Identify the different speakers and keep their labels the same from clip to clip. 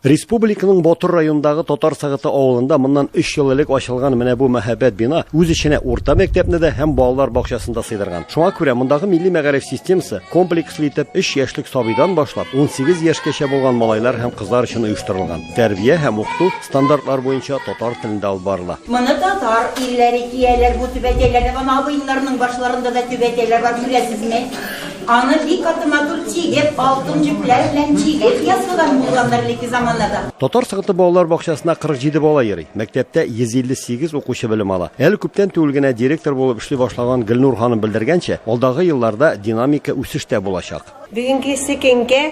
Speaker 1: Республиканың Ботыр районындагы Татар Сагыты авылында моннан 3 ел элек ачылган менә бу мәһабәт бина үз эченә урта мәктәпне дә һәм балалар бакчасын да сыйдырган. Шуңа күрә мондагы милли мәгариф системасы комплекслы итеп 3 яшьлек сабыйдан башлап 18 яшькәчә булган малайлар һәм кызлар өчен оештырылган. Тәрбия һәм укыту стандартлар буенча татар телендә алып барыла. Моны татар
Speaker 2: ирләре кияләр, бу түбәтәйләрне, аны абыеннарның башларында да түбәтәйләр бар, күрәсезме? Аны бик каты матур тигеп, алтын җепләр белән тигеп ясыйлар мулланнар элекке заманнарда. Татар сыгыты балалар
Speaker 1: бакчасына 47 бала йөри. Мәктәптә 158 укучы белем ала. Әле күптән түгел генә директор булып эшли башлаган Гөлнур ханым белдергәнчә, алдагы елларда динамика үсеш тә булачак. Бүгенге секеңгә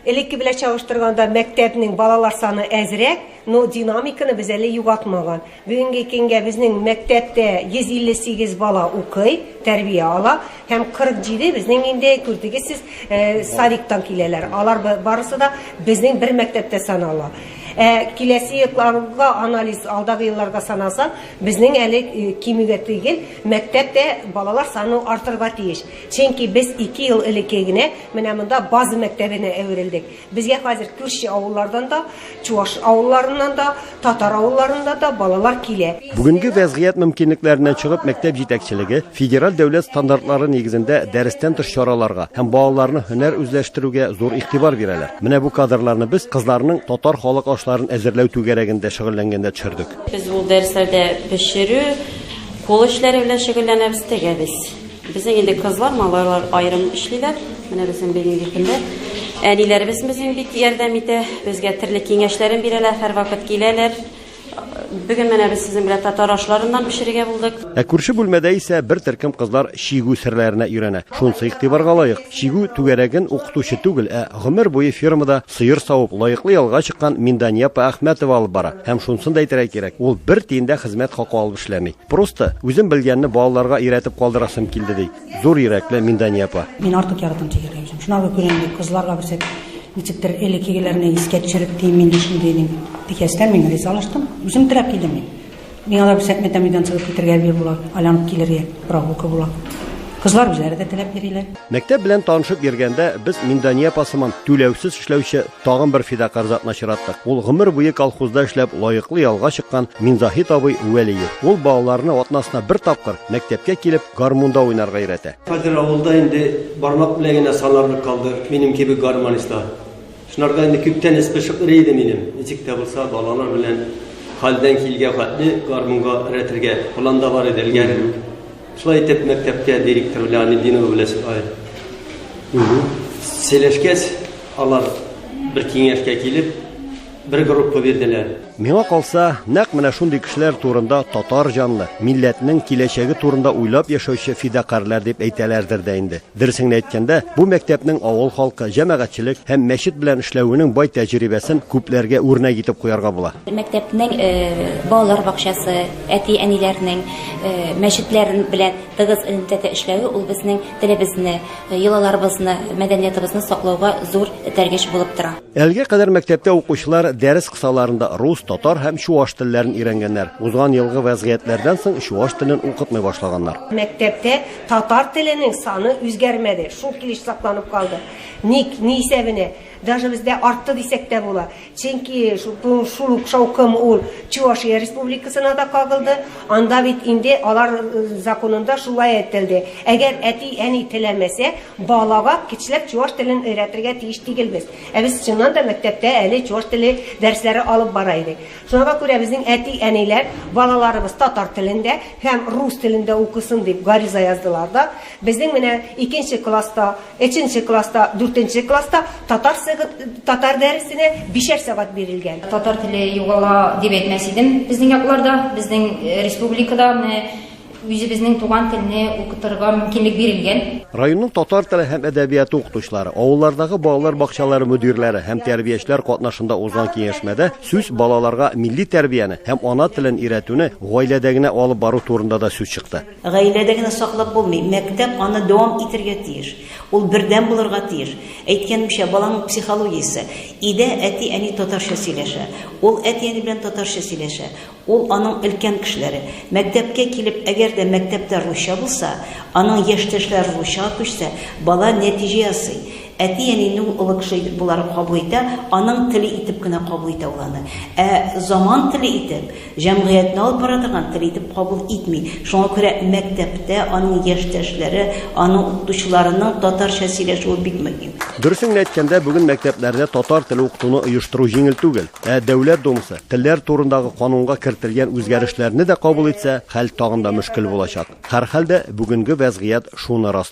Speaker 3: Элекке белән чагыштырганда мәктәпнең балалар саны әзрәк, но динамиканы без әле югалтмаган. Бүгенге көнгә безнең мәктәптә 158 бала укый, тәрбия ала һәм 47 безнең инде күрдегез сез, садиктан киләләр. Алар барысы да безнең бер мәктәптә санала. Ә киләсе елларга анализ, алдагы елларга санасаң, безнең әле кимүгә түгел, мәктәптә балалар саны артырга тиеш. Чөнки без ике ел элекке генә менә монда база мәктәбенә әверелдек. Безгә хәзер күрше авыллардан да, чуаш авылларыннан да, татар авылларыннан да балалар килә. Бүгенге вәзгыять
Speaker 1: мөмкинлекләреннән чыгып, мәктәп җитәкчелеге федераль дәүләт стандартлары нигезендә дәрестән тыш чараларга һәм балаларны һөнәр үзләштерүгә зур игътибар бирәләр. Менә бу кадрларны без кызларның татар халык ашларын әзерләү түгәрәгендә шөгыльләнгәндә төшердек. Без ул дәресләрдә
Speaker 4: пешерү, кул эшләре белән шөгыльләнәбез, тегәбез. Безнең инде кызлар, малайлар аерым эшлиләр. Менә безнең бүгенге көндә әниләребез безнең бик ярдәм итә. Безгә төрле киңәшләрен бирәләр, һәрвакыт киләләр. Бүген менә без сезнең белән татар ашларыннан пешерергә булдык. Ә күрше бүлмәдә исә
Speaker 1: бер төркем кызлар чигү серләренә өйрәнә. Шунысы игътибарга лаек, чигү түгәрәген укытучы түгел, ә гомер буе фермада сыер савып, лаеклы ялга чыккан Миндания апа Әхмәтова алып бара. Һәм шунысын да әйтергә кирәк, ул бер тиен дә хезмәт хакы алып эшләми. Просто үзем белгәнне балаларга өйрәтеп калдырасым килде, ди зур йөрәкле Миндания апа. Мин артык яратам тигергә
Speaker 5: үзем. Шуңа күрә күрә инде кызларга күрсәтеп, ничектер элеккегеләрне искә төшереп кием инде шундый дим. Тикәстән мин ризалаштым. Үзем теләп килдем мин. Миңа да күрсәтмә тәмледән сыгып китергә әби була, айланып килергә, прогулка була. Кызлар үзләре дә теләп йөриләр. Мәктәп белән танышып
Speaker 1: йөргәндә без Миндания апа сыман түләүсез эшләүче Тагын бер фидакарь затны очраттык. Ул гомер буе колхозда эшләп лаеклы ялга чыккан Минзаһит абый Вәлиев. Ул балаларны атнасына бер тапкыр мәктәпкә килеп гармунда уйнарга өйрәтә. Хәзер авылда инде
Speaker 6: бармак белән генә санарлык калды минем кебек гармонистлар. Шунарга инде күптән эс пошып йөри иде минем. Ничек тә булса балалар белән хәлдән килгән хәтле гармунга өйрәтергә планда бар иде элгәре. Шулай итеп, мәктәпкә директор белән Анединова белән сөйләшкәч, алар бер киңәшкә килеп, бер группа бирделәр. Миңа калса,
Speaker 1: нәкъ менә шундый кешеләр турында татар җанлы, милләтнең киләчәге турында уйлап яшәүче фидакарлар дип әйтәләрдер дә инде. Дөресен генә әйткәндә, бу мәктәпнең авыл халкы, җәмәгатьчелек һәм мәчет белән эшләвенең бай тәҗрибәсен күпләргә үрнәк итеп куярга була. Мәктәпнең
Speaker 7: балалар бакчасы, әти-әниләрнең мәчетләр белән тыгыз элемтәдә эшләве ул безнең телебезне, йолаларыбызны, мәдәниятыбызны саклауга зур этәргеч булып тора. Әлегә кадәр мәктәптә
Speaker 1: укучылар дәрес кысаларында рус, татар һәм чуаш телләрен өйрәнгәннәр. Узган елгы вәзгыятьләрдән соң чуаш телен укытмый башлаганнар. Мәктәптә
Speaker 3: Татар теленең саны үзгәрмәде, шул килеш сакланып калды. Ник, ни исәбенә? Даже бездә артты дисәк тә була. Чөнки шул ук шаукым ул Чувашия республикасына да кагылды. Анда бит инде алар э, законында шулай әйтелде. Әгәр әти, әни теләмәсә, балага кичләп чуваш телен өйрәтергә тиеш түгелбез. Ә без чыннан да мәктәптә әле чуваш теле дәресләре алып бара идек. Шуңа күрә безнең әти-әниләр балаларыбыз татар телендә һәм рус телендә укысын дип гариза яздылар да, безнең менә икенче класста, өченче класста, дүртенче класста татар сыгы татар дәресенә бишәр сәгать бирелгән. Татар теле югала
Speaker 8: дип әйтмәс идем безнең якларда, безнең республикада менә Үзебезнең туган телне укытырга мөмкинлек бирелгән. Районның татар
Speaker 1: теле һәм әдәбияты укытучылары, авыллардагы балалар бакчалары мөдирләре һәм тәрбиячеләр катнашында узган киңәшмәдә сүз балаларга милли тәрбияне һәм ана телен өйрәтүне гаиләдә генә алып бару турында да сүз чыкты. Гаиләдә генә саклап
Speaker 9: булмый, мәктәп аны дәвам итергә тиеш. Ул бердәм булырга тиеш. Әйткәнемчә, баланың психологиясе, өйдә әти-әни татарча сөйләшә, ул әти-әни белән татарча сөйләшә, Ул аның өлкән кешеләре. Мәктәпкә килеп, әгәр дә мәктәптә русча булса, аның яшьтәшләре русчага күчсә, бала нәтиҗә ясый. Әти-әнине ул олы кеше итеп болары кабул итә, аның теле итеп кенә кабул итә ул аны. Ә заман теле итеп, җәмгыятьне алып бара торган тел итеп кабул итми. Шуңа күрә мәктәптә аның яшьтәшләре, аның укытучыларының татарча сөйләшүе бик мөһим. Дөресен генә әйткәндә,
Speaker 1: бүген мәктәпләрдә татар теле укытуны оештыру җиңел түгел. Ә Дәүләт Думасы телләр турындагы канунга кертелгән үзгәрешләрне дә кабул итсә, хәл тагын да мөшкел булачак. Һәрхәлдә, бүгенге вәзгыять шуны раслый.